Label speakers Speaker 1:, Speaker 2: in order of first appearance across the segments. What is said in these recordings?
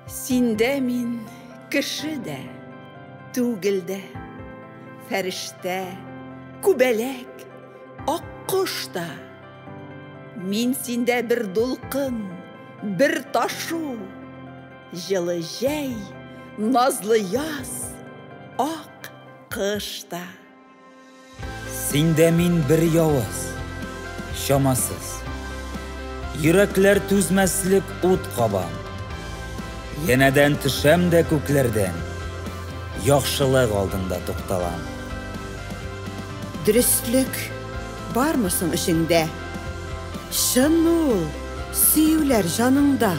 Speaker 1: Синдә мин кеше дә, түгел дә, фәрештә, күбәләк, аккош та. Мин синдә бер дулкын, бер ташу, җылы җәй, назлы яз, ак кыш та. Синдә мин бер явыз, чамасыз. Йөрәкләр түзмәслек ут кабам. Янәдән төшәм дә күкләрдән, яхшылык алдында тукталам. Дөреслек бармы соң эчеңдә? Чынмы ул сөюләр җаныңда?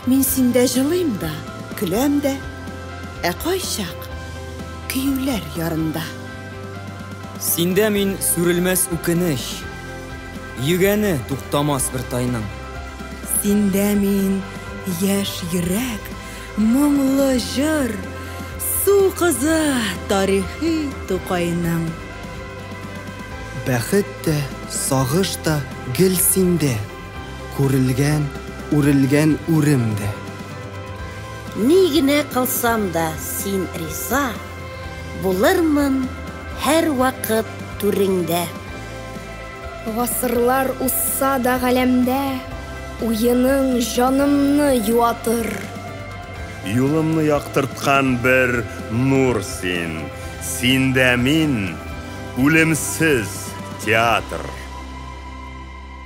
Speaker 1: Мин синдә җылыйм да, көләм дә. Ә кайчак? Көюләр ярында. Синдә мин сүрелмәс үкенеч. Йөгәне туктамас бер тайның. Синдә мин яшь йөрәк, моңлы җыр, су кызы тарихи Тукайның. Бәхет тә, сагыш та гел синдә. Күрелгән, үрелгән үрем дә. Ни генә кылсам да син риза, Булырмын һәрвакыт түреңдә. Гасырлар узса да галәмдә, Уеның җанымны юатыр. Юлымны яктырткан бер нур син, Синдә мин, үлемсез театр.